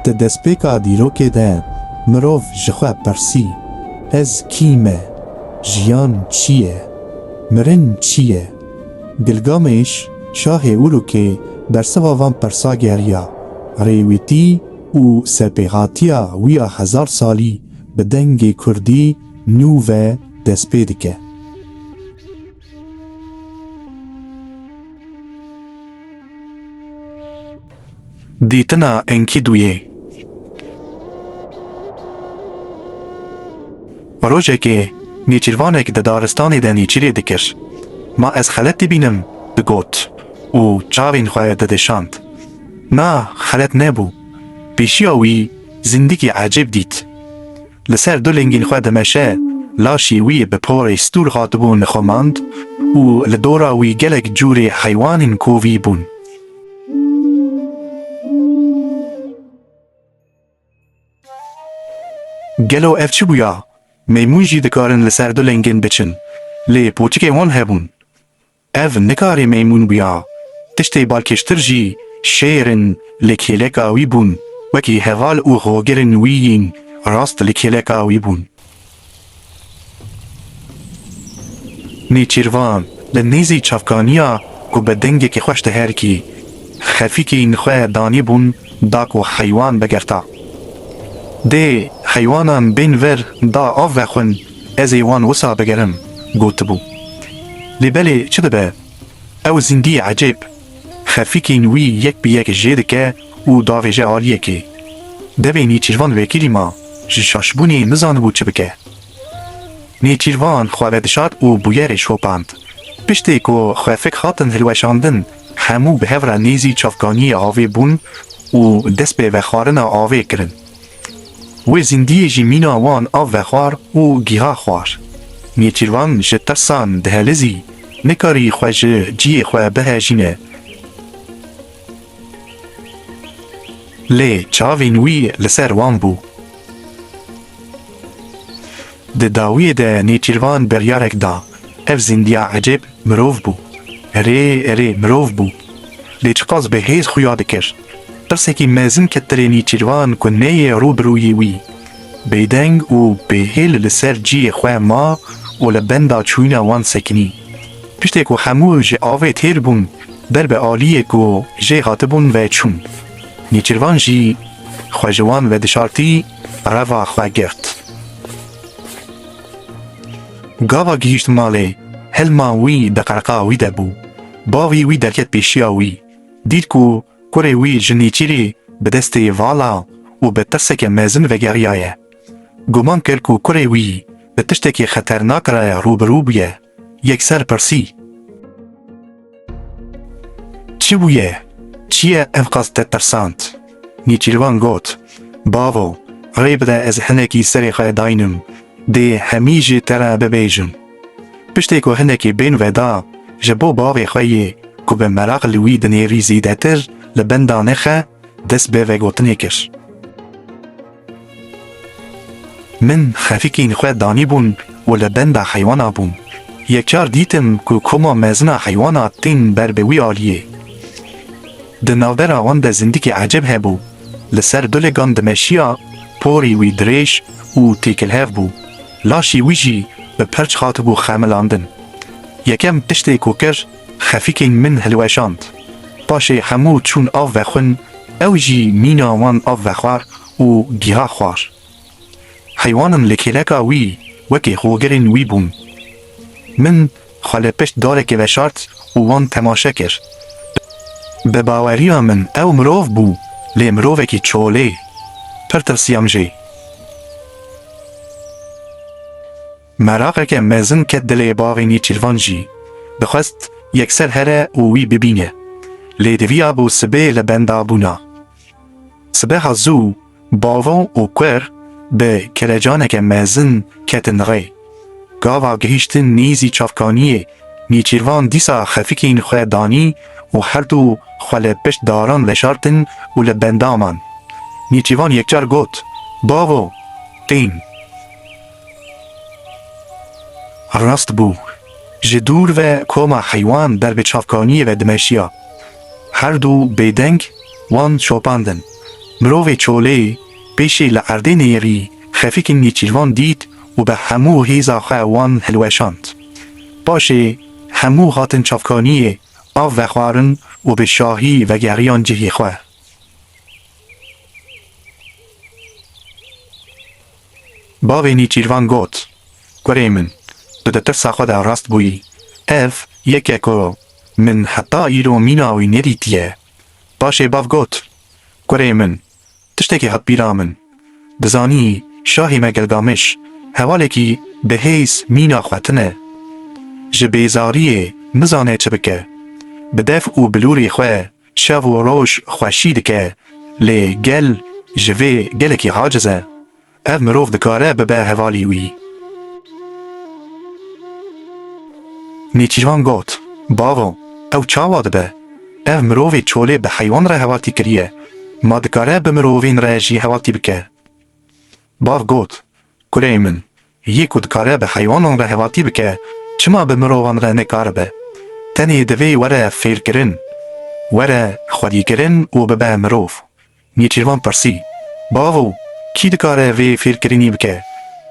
Di destpêka dîrokê de mirov ji xwe pirsî, Ez kî me? Jiyan çi ye? Mirin çi ye? Gilgamêş, şahê Urûkê bersiva van pirsa geriya, rêwîtî û serpêhatiya wî ya hezar salî bi dengê kurdî nû ve destpê dike. Dîtina Enkîdûyê Rojekê nêçîrvanek di daristanê de nêçîrê dikir. Ma ez xelet dibînim digot û çavên xwe didişand. Na xelet nebû. Pêşiya wî zindikî ecêb dît. li ser du lingîn xwe dimeşe, laşê wî bi porê stûr hatibû nixumand û li dora wî gelek cûrê heywanên kovî bûn. Gelo ev çi bûya? Meymûn jî dikarin li ser du lingîn biçin, lê poçikên wan hebûn. Ev nikarê meymûn bûya, tiştê balkêştir jî şêr in li kêleka wî bûn, wekî heval û hogirên wî yên rast li kêleka wî bûn. Nêçîrvan li nêzî çavkaniya ku bi dengekî xweş diherikî, xefîkên xwe danî bûn da ku heywan bigerta. Dê heywanan bên vir da av vexwin. Ez ê wan wisa bigerim gotibû. Lê belê çi dibe, ew zîndiyê ecêb xefîkên wî yek bi yek jê dike û davêje aliyê kê. Devê Nêçîrvan Wekîlî ma ji şaşbûnê nizanibû çi bike. Nêçîrvan xwe vedişart û bûyerê şopand. Piştê ku xefik hatin hilweşandin, hemû bi hev re nêzî çavkaniyê avê bûn û dest bi vexwarina avê kirin. Wê zîndiyê jî mîna wan a vexwar û giha xwar. Nêçîrvan ji tirsan dihelizî, nikarî xwe ji ciyê xwe bihejîne. Lê çavên wî li ser wan bû. Di dawiyê de nêçîrvan biryarek da, ev zîndiya ecêb mirov bû. Rê rê mirov bû. Lê çiqas bi hêz xuya dikir. Pirsekî mezin ke tilê Nîçîrvan ku neyê rû bi rûyî wî, bêdeng û bêhêl li ser ciyê xwe ma û li benda çûyîna wan sekinî. Tiştê ku hemû ji avê têr bûn, ber bi aliyê ku jê hatibûn ve çûn. Nîçîrvan jî xwe ji wan ve dişartî, reva xwe girt. Gava gihîşt malê, hilma wî di qerqa wî de bû. Bavî wî derket pêşiya wî. Dît ku kurê wî ji nêçîrî bi destê vala û bi tirseke mezin vegeriyaye. Guman kir ku kurê wî bi tiştekî xeternak re rûbirû bûye, yekser pirsî, Çi bûye? Çi ye evqas te tirsand? Nêçîrvan got, Bavo, rê bide ez hinekî serê xwe daynim, dê hemî jî te re bibêjim. Piştî ku hinekî bên veda ji bo bavê xwe yê ku bi meraq li wî dinêrî zêdetir li benda nexe, dest bi vegotinê kir. Min xefikîn xwe danîbûn û li benda heywana bûm. Yekcar dîtim ku koma mezina heywana tên ber bi wî aliyê. Di navbera wan de zindikî ecêb hebû, li ser dulegan dimeşiya, porê wî dirêj û têkilhev bû. Laşê wî jî bi perç hatibû xemilandin. Yekem tiştê ku kir, xefîkên min hilweşand. Paşê hemû çûn av vexwin, ew jî mîna wan av vexwar û giha xwar. Heywanin li kêleka wî wekê hogirên wî bûn. Min xwe li pişt darekê veşart û wan temaşe kir. Bi baweriya min ew mirov bû, lê mirovekî çolê. Pir tirsiyam jî. Meraqeke mezin ket dilê bavê Nêçîrvan jî. Dixwest yekser here û wî bibîne. Lê diviyabû sibê li benda bûna. Sibeha zû. Bavon û Kuer bi kelecaneke mezin ketin rê. Gava gihîştin nîzî çavkaniyê, Nîçîrvan dîsa xefikîn xwe danî û herdu xwe li pişt daran veşartin û li benda man. Nîçîvan yekcar got, Bavo! Qîn! Rast bû, ji dûr ve koma heywan ber bi çavkaniyê ve dimeşiya. Her du bêdeng wan şopandin. Mirovê çolê pêşê li erdê neyêrî xefîkên nêçîrvan dît û bi hemû hêza xwe wan hilweşand. Paşê hemû hatin çavkaniyê av vexwarin û bi şahî vegeriyan cihê xwe. Bavê Nîçîrvan got, Kurê min, tu di tirsa xwe de rast bûyî. Ev yek e ku min heta îro mîna wî nedîtiye. Paşê bav got, Kurê min, tiştekî hat bîra min. Dizanî şahê me Gilgamiş hevalekî bi hêz mîna xwe tine. Ji bêzariyê nizane çi bike. Bi dev û bilûrê xwe Şev û roj xweşî dike, lê gel ji vê gelekî aciz e. Ev mirov dikare bibe hevalî wî. Nêçîrvan got, Bavo, ew çawa dibe? Ev mirovê çolê bi heywan re hevaltî kiriye, ma dikare bi mirovên re jî hevaltî bike. Bav got, Kureyê min, Yê ku dikare bi heywanan re hevatî bike, çima bi mirovan re nekaribe? Tenê divê were fêrkirin, were xwedîkirin û bibe mirov. Nêçîrvan pirsî, Bavo, kî dikare vê fêrkirinî bike?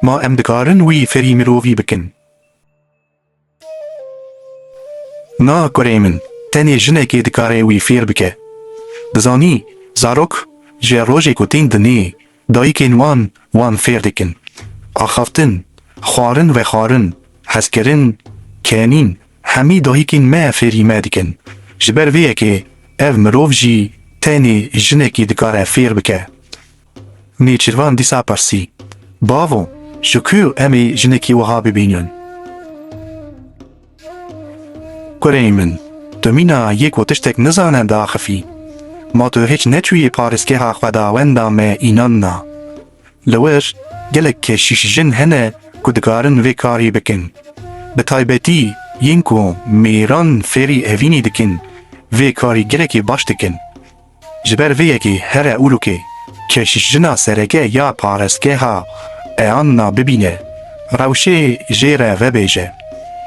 Ma em dikarin wî fêrî mirovî bikin? Na kurê min, tenê jinekê dikare wî fêr bike. Dizanî, zarok ji rojê ku tên dinê dayikên wan, wan fêr dikin, axaftin, xwarin vexwarin, hezkirin, kenîn, hemî dayikên me fêrî me dikin. Ji ber vê yekê ev mirov jî tenê jinekê dikare fêr bike. Nêçîrvan dîsa pirsî, Bavo, ji ku em ê jinekî wiha bibînin? Kurê min, tu mîna yê ku tiştek nizane diaxifî. Ma tu hêç neçûyî parêzgeha xwedawenda me înan na. Li wir gelek keşîş jin hene ku dikarin vê karî bikin. Bi taybetî yên ku mêran fêrî evînî dikin vê karî gelekî baş dikin. Ji ber vê yekê here Urûkê keşişjina sereke ya parestgeha Eanna bibîne, rewşê jê re vebêje,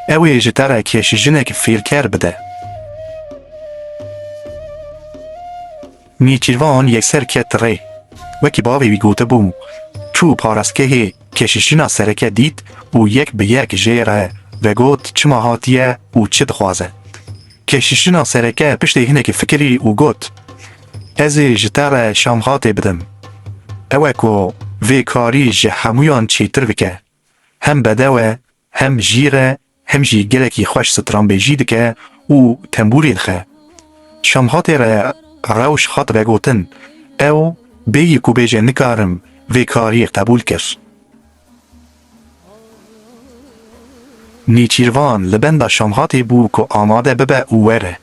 ew ê ji te re keşişjinek fêlker bide. Nêçîrvan yekser ket rê. Wekî bavê wî gotibû, çû parestgehê keşişjina sereke dît û yek bi yek jê re vegot çima hatiye û çi dixwaze. Keşîşina sereke piştî hinekî fikirî û got, Ez ê ji te re şamxatê bidim. Ew e ku vê karî ji hemûyan çêtir bike. Hem bedew e, hem jîr e, hem jî gelekî xweş stranbêjî dike û tembûrê dixe. Şamxatê re rewş hat vegotin, ew bêyî ku bêje nikarim vê karî qebûl kir. Nêçîrvan li benda Şamhatê bû ku amade bibe û were.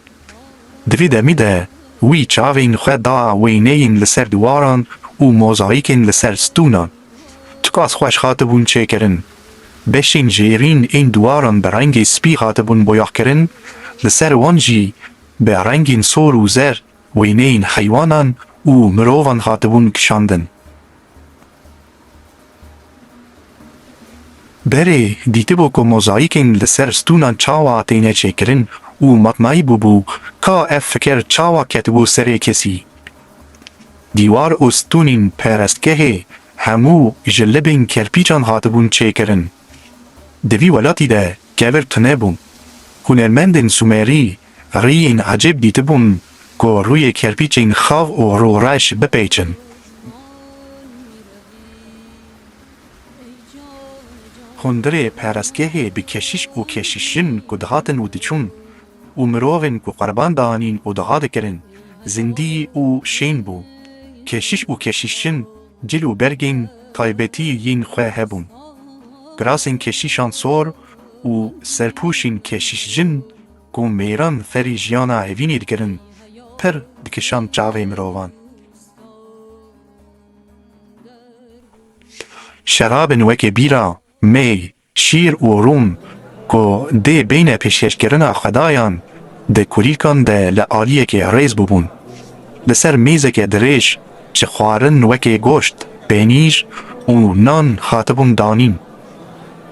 Di vî demî de wî çavên xwe da wêneyên li ser diwaran û mozaîkên li ser stûnan. Tikas xweş hatibûn çêkirin. Beşên jêrîn ên diwaran bi rengê spî hatibûn boyaxkirin, li ser wan jî bi rengên sor û zer wêneyên heywanan û mirovan hatibûn kişandin. Berê dîtibû ku mozayîkên li ser stûnan çawa têne çêkirin û matnayî bûbû ka ev fikir çawa ketibû serê kesî. Dîwar û stûnên perestgehê hemû ji libên kerpîcan hatibûn çêkirin. Di vî welatî de kevir tune bû. Hunermendên Sûmerî Riyên ecêb dîtibûn ku rûyê kerpîçên xav û rûreş bipeyçin. Hundirê perestgehê bi keşiş û keşişjin ku dihatin û diçûn û mirovên ku qurban dianîn û diha dikirin zindî û şên bû. Keşiş û keşişjin cil û bergên taybetî yên xwe hebûn. Kirasên keşişan sor û serpûşên keşişjin, ku mêran ferî jiyana hevînê dikirin, pir dikişand çavê mirovan. Şerabên wekî bîra, mê, şîr û rûn ku dê bêyne pêşkêşkirina xwedayan, di kulîlkan de li aliyekê rêz bûbûn. Li ser mêzekê dirêj ji xwarin wekî goşt, pênîr û nan hatibûn danîn.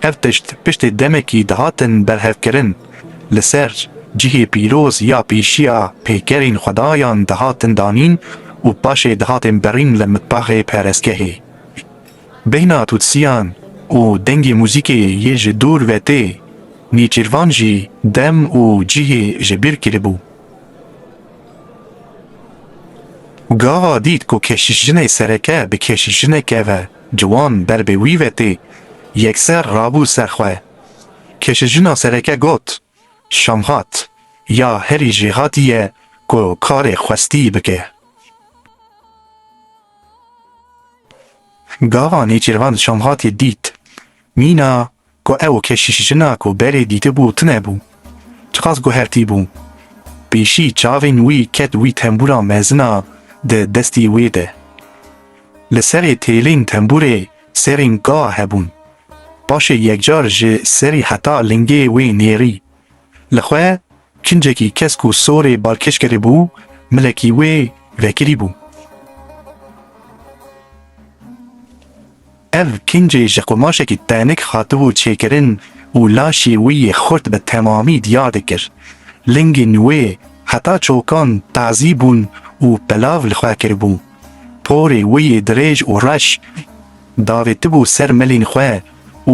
Ev tişt piştî demekî dihatin berhevkirin, li ser cihê pîroz ya pêşiya peykerên xwedayan dihatin danîn û paşê dihatin birîn li mitbaxê parêzgehê. Bêhna tûtsiyan û dengê muzîkê yê ji dûr ve tê nêçîrvan jî dem û cihê ji bîr kiribû. Gava dît ku keşişjinê sereke bi keşişjineke ve Ciwan ber bi wî ve tê, yekser rabû ser xwe. Kişijina sereke got, Şamhat ya herî jêhatî ye ku karê xwestî bike. Gava Nêçîrvan Şamhatî dît, mîna Ku ew keşîşjina ku berê dîtibû tune bû. Çiqas guhertîbû. Pêşî çavên wî ket wî tembûra mezin a di destî wê de. Li serê têlên tembûrê serên ka hebûn. Paşê yekcar ji serî heta lingê wê nêrî Li xwe kincekî kesk û sorê balkêş kiribû, milekî wê vekirîbû. Ev kincê ji qumaşekî tenik hatibû çêkirin û laşê wî yê xurt bi temamî diyar dikir. Lingên wê heta çokan tazî bûn û pilav li xwe kiribû. Porê wê yê dirêj û reş davêtibû ser milên xwe.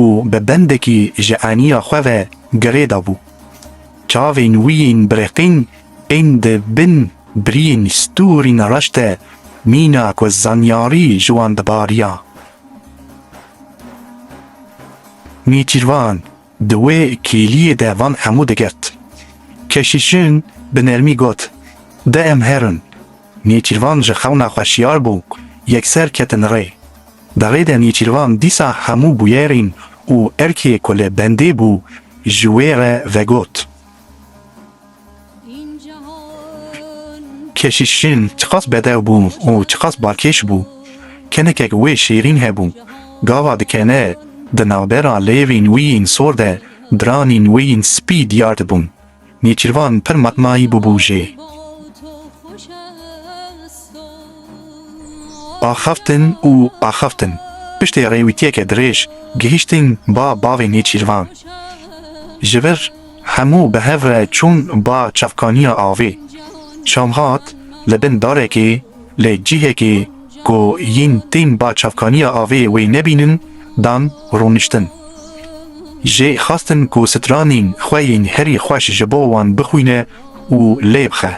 û bi bendekî ji eniya xwe ve girê dabû. Çavên wî yên birêqîn tên di bin biriyên stûrîn reş de mîna ku zanyarî ji wan dibariya. Nêçîrvan di wê kêliyê de van hemû digirt. Keşişin bi nermî got, De em herin. Nêçîrvan ji xewna xwe şiyar bû, yekser ketin rê. Davê de Nêçîrvan dîsa hemû bûyerên û erkê ku li bendê bû ji wê re vegot. Keşîşin çiqas bedew bû û çiqas balkêş bû. Kenekek wê şêrîn hebû. Gava dikene di navbera lêvên wî yên sor de diranên wê yên spî diyar dibûn. Nêçîrvan pir matnayî bûbû jê. Axaftin û axaftin. Piştê rêwîtiyeke dirêj gihîştin ba bavê Nêçîrvan. Ji vir hemû bi hev re çûn ba çavkaniya avê. Şam hat li bin darekê. lê cihekê ku yên tên ba çavkaniya avê wê nebînin dan rûniştin. Jê xwestin ku stranên xwe yên herî xweş ji bo wan bixwîne û lê bixe.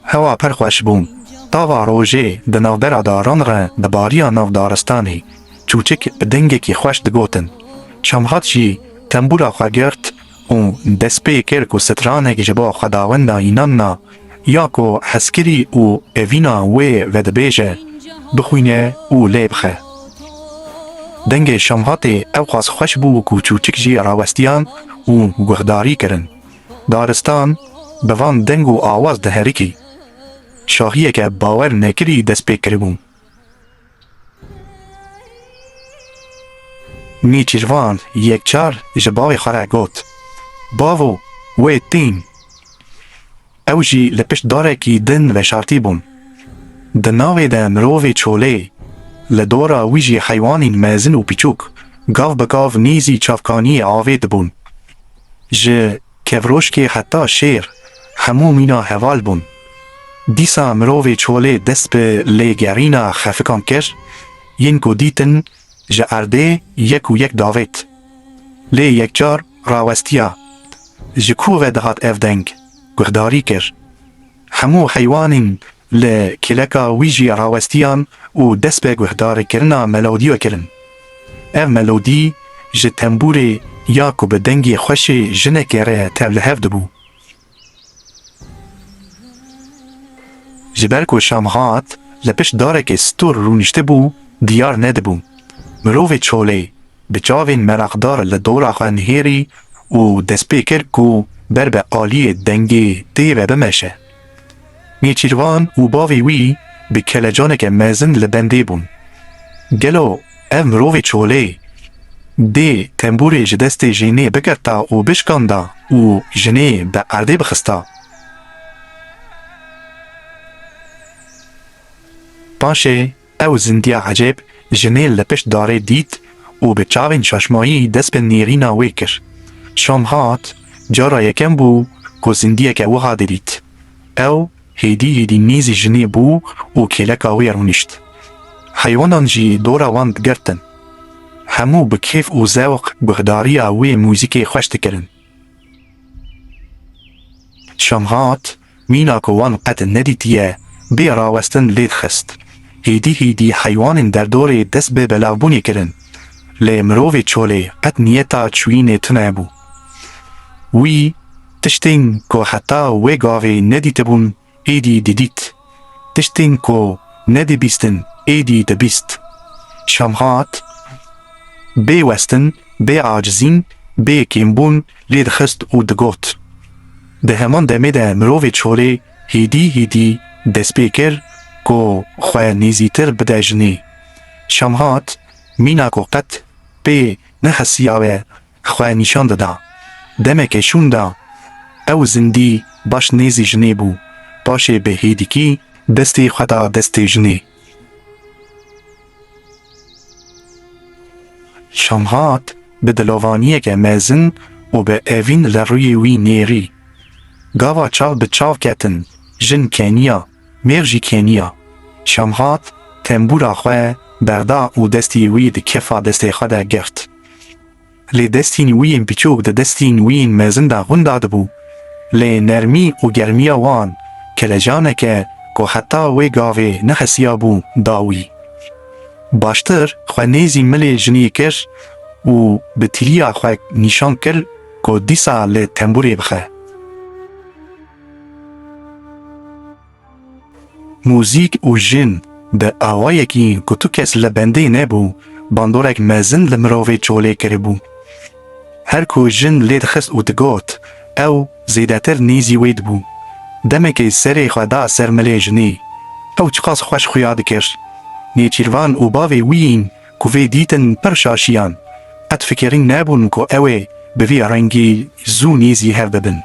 Hewa pir xweş bû. Tava rojê di navbera daran re dibariya nav daristanê. Çûçik bi dengekî xweş digotin. Şamhat jî tembûra xwe girt û dest pê kir ku stranek ji bo xwedawenda înan na ya ku hezkirî û evîna wê vedibêje bixwîne û lê bixe. Dengê Şamhatê ewqas xweş bû ku çûçik jî rawestiyan û guhdarî kirin. Daristan bi van deng û awaz diherikî. Şahiyeke bawer nekirî dest pê kiribû. Nêçîrvan yekcar ji bavê xwe re got, Bavo, wê tîn! Ew jî li pişt darekî din veşartîbûn. Di navê de mirovê çolê, li dora wî jî heywanîn mezin û piçûk, gav bi gav nêzî çavkaniyê avê dibûn. Ji. Kevroşkê heta şêr hemû mîna heval bûn. Dîsa mirovê çolê dest bi lêgerîna xefikan kir, yên ku dîtin ji erdê yek û yek davêt. Lê yekcar rawestiya. Ji ku ve dihat ev deng? Guhdarî kir. Hemû heywanên Li kêleka wî jî rawestiyan û dest bi guhdarkirina melodîya kirin. Ev melodî ji tembûrê ya ku bi dengê xweşê jinekê re tevlihev dibû. Ji ber ku şam hat, li pişt darekê stûr rûniştibû, diyar nedibû. Mirovê çolê bi çavên meraqdar li dora xwe nihêrî û dest pê kir ku ber bi aliyê dengê tê ve bimeşe. Nêçîrvan û bavê wî bi kelecaneke mezin li bendê bûn. Gelo ev mirovê çolê dê tembûrê ji destê jênê bigirta û bişkanda û jinê bi erdê bixista? Paşê. Ew zindiya ecêb jinê li pişt darê dît û bi çavên şaşmayî dest bi nêrîna wê kir. Şam hat, cara yekem bû ku zindiyeke wiha didît. Ew hêdî hêdî nêzî jinê bû û kêleka wê rûnişt. Heywanan jî dora wan digirtin. Hemû bi kêf û zewq guhdariya wê muzîkê xweş dikirin. Şam hat, mîna ku wan qet nedîtiye bê rawestin lê dixist. Hêdî hêdî heywanên derdorê dest bi belavbûnê kirin. Lê mirovê çolê qet niyeta çûyînê tune bû. Wî tiştên ku heta wê gavê nedîtibûn êdî didît. Tiştên ku nedibîstin êdî dibîst. Şamhat bê westin, bê acizîn, bê kêmbûn lê dixist û digot. Di heman demê de mirovê çolê hêdî hêdî dest pê kir ku xwe nêzîtir bide jinê. Şamhat mîna ku qet pê nexisiyawe xwe nîşan dida. Demeke şûn de ew zindî baş nêzî jinê bû, paşê bi hêdîkî destê xwe da destê jinê. Şamhat bi dilovaniyeke mezin û bi evîn li rûyê wî nêrî. Gava çav bi çav ketin, jin keniya, mêr jî keniya. Şamhat tembûra xwe berda û destê wî di kefa destê xwe de girt. lê destên wî yên biçûk di destên wî yên mezin de hûn dadibû, lê nermî û germiya wan kelecaneke ku heta wê gavê nehesiyabû da wî. Baştir xwe nêzî milê jinê kir û bi tîliya xwe nîşan kir ku dîsa li tembûrê bixe. Muzîk û jin bi awayekî ku tu kes li bendê nebû bandorek mezin li mirovê çolê kiribû. Her ku jin lê dixist û digot, ew zêdetir nîzî wê dibû. Demekê serê xwe da ser milê jinê. Ew çiqas xweş xuya dikir. Nêçîrvan û bavê wî yên ku vê dîtin pir şaşiyan. Qet fikirîn nebûn ku ew ê bi vî rengî zû nîzî hev bibin.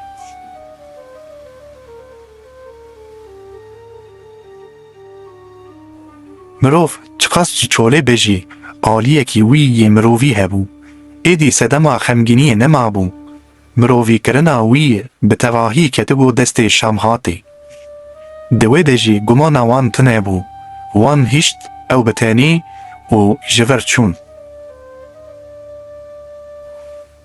Mirov çiqas jî çolê be jî aliyekî wî yê mirovî hebû. Êdî sedema xemgîniyê nemabû. Mirovîkirina wî bi tevahî ketibû destê Şamhatê. Di wê de jî gumana wan tune bû. Wan hişt ew bi tenî û ji vir çûn.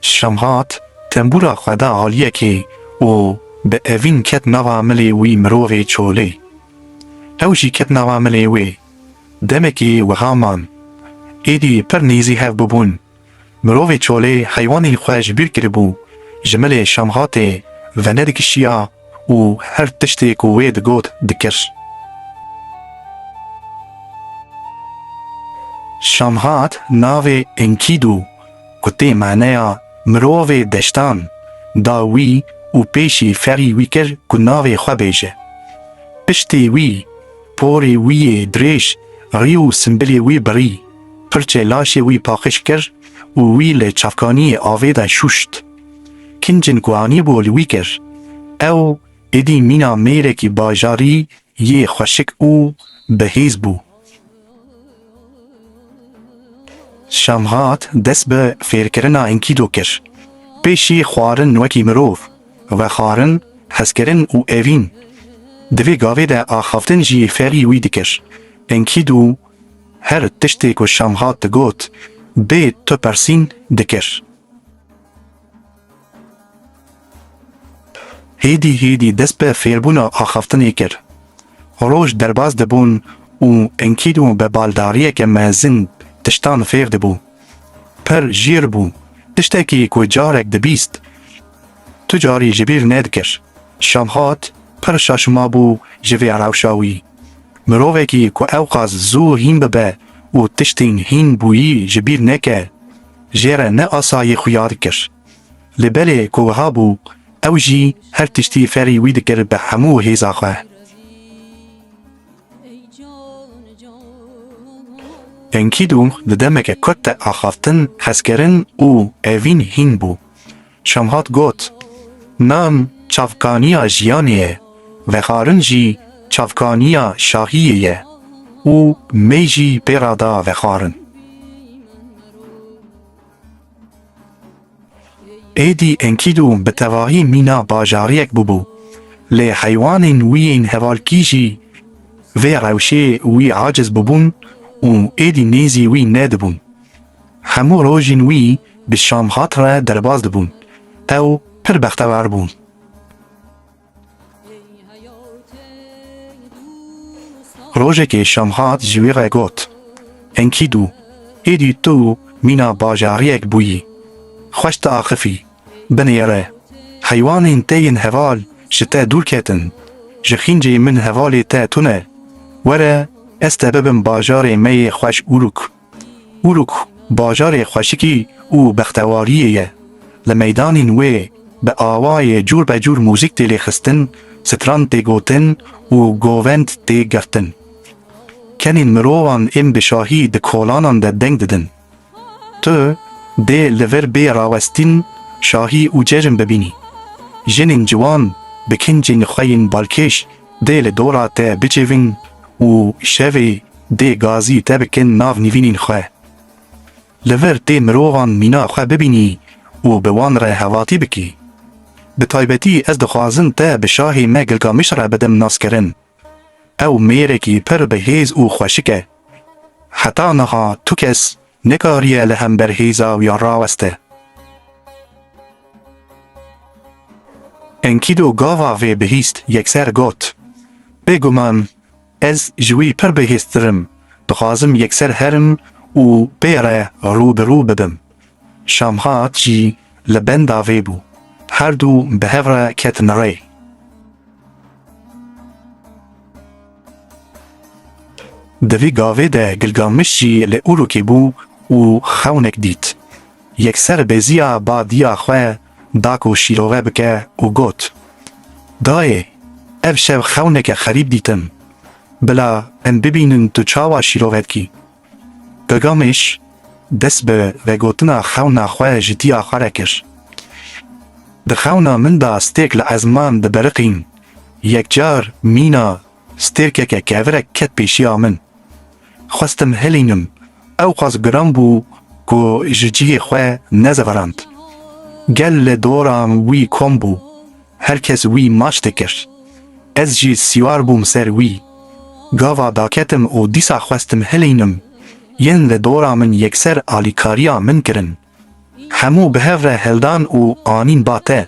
Şamhat tembûra xwe da aliyekê û bi evîn ket nava milê wî mirovê çolê. Ew jî ket nava milê wê. Demekê wiha man. Êdî pir nêzî hev bûbûn. Mirovê çolê heywanên xwe ji bîr kiribû, ji milê Şamhatê venedikişiya û her tiştê ku wê digot dikir. Şamhat navê Enkîdû ku tê maneya mirovê deştan da wî û pêşî ferî wî kir ku navê xwe bêje. Piştî wî porê wî yê dirêj rî û simbilê wî bi rî pirçe laşê wî paqij kir û wî li çavkaniyê avê de şûşt. Kincin ku anîbû li wî kir, ew êdî mîna mêrekî bajarî yê xweşik û bi hêz bû. Şamhat dest bi fêrkirina Enkido kir. Pêşî xwarin wekî mirov, vexwarin, hezkirin û evîn. Di vê gavê de axaftin jî ferî wî dikir. Enkido her tiştê ku Şamhat digot bê tu persîn dikir. Hêdî hêdî dest bi fêrbûna axaftinê kir. Roj derbas dibûn û Enkidu bi baldariyeke mezin tiştan fêr dibû. Pir jîr bû, tiştekî ku carek dibîst, tu carî ji bîr nedikir. Şamhat pir şaşma bû ji vê rewşa wî. Mirovekî ku ewqas zû hîn bibe û tiştên hîn bûyî ji bîr neke, jê re ne asayî xuya dikir. Li berê ku wiha bû ew jî her tiştî ferî wî dikir bi hemû hêza xwe. Enkîdu di demeke kurt de axaftin, xezkirin û evîn hîn bû. Şamhat got, Nam çavkaniya jiyanê ye, vexarin jî çavkaniya şahiyê ye û mey jî pê re da vexarin. Êdî Enkîdû bi tevahî mîna bajariyek bûbû, lê heywanên wî yên hevalkî jî vê rewşê wî aciz bûbûn û êdî nêzî wî nedibûn. Hemû rojên wî bi Şamxat re derbas dibûn. Ew pir bextewar bû. Rojekê Şamxat ji wî re got, Enkîdû, êdî tu mîna bajariyek bûyî. Xweş diaxifî, binêre. Heywanên te yên heval ji te dûr ketin. Ji xîncê min hevalê te tune. Were ez te bibim bajarê me yê xweş Uruk. Uruk bajarê xweşikî û bextewariyê ye. Li meydanên wê bi awayê cûrbecûr mûzîk tê lêxistin, stran tê gotin û govend tê girtin. Kenên mirovan ên bi şahî di kolanan de deng didin. Tu dê li vir bê rawestîn şahî û cejn bibînî. Jinên ciwan bi kincên xwe yên balkêş dê li dora te bicivin û şevê Dê gazî te bikin nav nîvînîn xwe. Li vir tê mirovan mîna xwe bibînî û bi wan re hevatî bikî. Bi taybetî ez dixwazim te bi şahê me Gilgamiş re bidim naskirin. Ew mêrekî pir bi hêz û xweşik e. Heta niha tu kes nekariye li hember hêza wî raweste. Enkidu gava vê bihîst yekser got, Bêguman Ez ji wî pir bihîstir im, dixwazim yekser herim û pê re rû bi rû bibim. Şamhat jî li benda vê bû. Her du bi hev re ketin rê. Di vî gavê de Gilgamiş jî li Urûkê bû û xewnek dît. Yekser beziya badiya xwe da ku şîrove bike û got, Dayê, ev şev xewneke xerîb dîtim. Bila em bibînin tu çawa şîrove dikî. Gilgameş dest bi vegotina xewna xwe ji dîya xwe re kir, Di xewna min de stêk li ezman dibiriqîn, yekcar mîna Stêrkeke kevirek ket pêşiya min. Xwestim hilînim, ewqas giran bû ku ji cihê xwe nezeverand. Gel li dora wî kom bû, her kes wî maç dikir. Ez jî sîwar bûm ser wî. Gava daketim û dîsa xwestim hilînim, yên li dora min yekser alîkariya min kirin. Hemû bi hev re hildan û anîn ba te,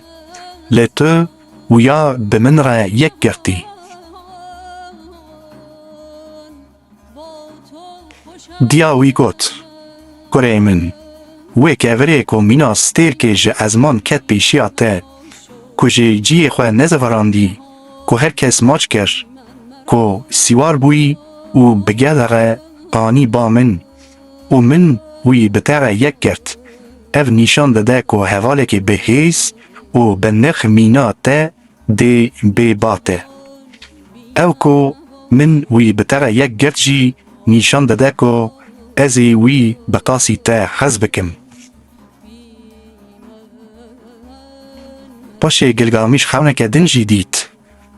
lê tu wiya bi min re yek girtî. Diya wî got, Kurê min, wê kevirê ku mîna stêrkê ji ezman ket pêşiya te, ku ji ciyê xwe nezivirandî, ku her kes maç kir, ku sîwar bûyî û bi gel re anî ba min, û min wî bi te re yek girt. Ev nîşan dide ku hevalekî bi hêz û bi nirx mîna te dê bê ba te. Ew ku min wî bi te re yek girt jî nîşan dide ku ez ê wî bi qasî te hez bikim. Paşê Gilgamîş xewneke din jî dît.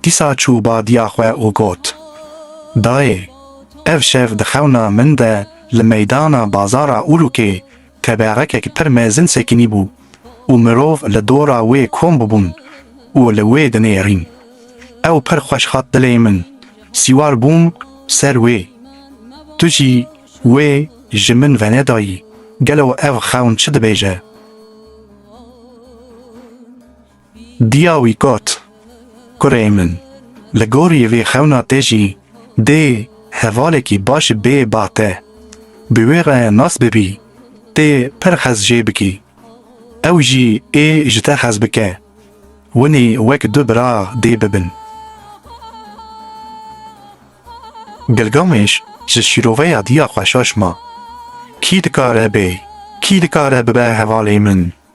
Dîsa çû badiya xwe û got, Dayê, ev şev di xewna min de li meydana bazara Urûkê teberekek pir mezin sekinîbû û mirov li dora wê kom bûbûn û li wê dinêrîn. Ew pir xweş hat dilê min, sîwar bûm ser wê. Tu jî wê ji min venedayî, gelo ev xewn çi dibêje? Diya wî got, Kurê min, li gorî vê xewna te jî dê hevalekî baş bê ba te, bi wê re nas bibî, tê pir hez jê bikî, ew jî ê ji te hez bike, winî wek du bira dê bibin. Gilgamêş ji şîroveya diya xwe şaş ma, Kî dikare bê, kî dikare bibe hevalê min?